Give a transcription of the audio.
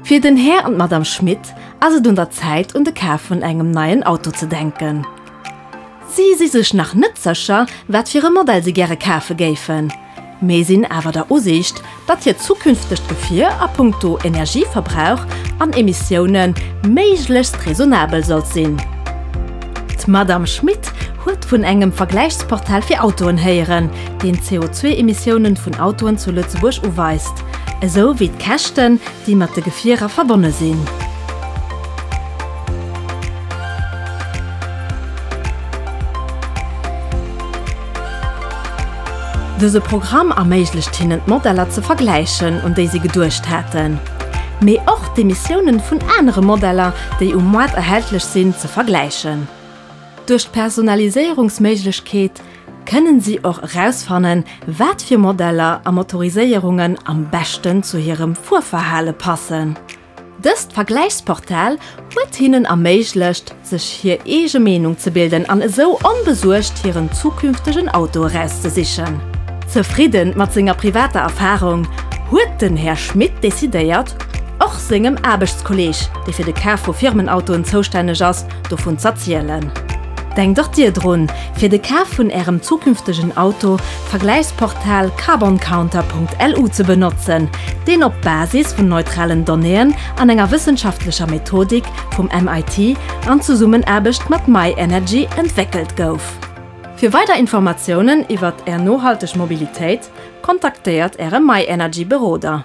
Fir den Här an d'Madame Schmit ass et un der Zäit un de Kaf vun engem neien Auto ze denken. Si si sech nach net sécher, wat fir e Modell si gäre kafe géifen. Mee sinn awer der Usiicht, datt hiert zukünftegt Gefier a punkto Energieverbrauch an Emissioune méiglechst raisonnabel sollt sinn. D'Madamm Schmit huet vun engem Vergläichsportal fir Autoen héieren, deen d'CO2-Emissioune vun Autoen zu Lëtzebuerg uweist, esou wéi d'Käschten, déi mat de Gefierer verbonne sinn. Dëse Programm erméiglecht hinnen d'Modeller ze vergläichen, un déi si geduecht haten, mee och d'Emissiounen vun anere Modeller, déi um Moart erhältlech sinn, ze vergläichen. Duerch d'Personaliséierungsméiglechkeet kënnen si och erausfannen, wat fir Modeller a Motoriséierungen am beschten zu hirem Fuerverhale passen. Dëst Vergläichsportal huet hinnen erméiglecht, sech hir eege Meenung ze bilden an esou onbesuergt hiren zukünftegen Auto erauszesichen. Zefridden mat senger privater Erfarung, huet den Här Schmit decidéiert, och sengem Aarbechtskolleg, dee fir de Kaf vu Firmenautoen zoustänneg ass, dovun z'erzielen. Denkt och Dir drun, fir de Kaf vun Ärem zukünftegen Auto Vergläichsportal carboncounter.lu ze benotzen, deen op Basis vun neutralen Donnéeën an enger wëssenschaftlecher Methodik vum MIT an Zesummenaarbecht mat myenergy entwéckelt gouf. Fir weider Informatiounen iwwert Är nohalteg Mobilitéit, kontaktéiert Äre myenergy Beroder.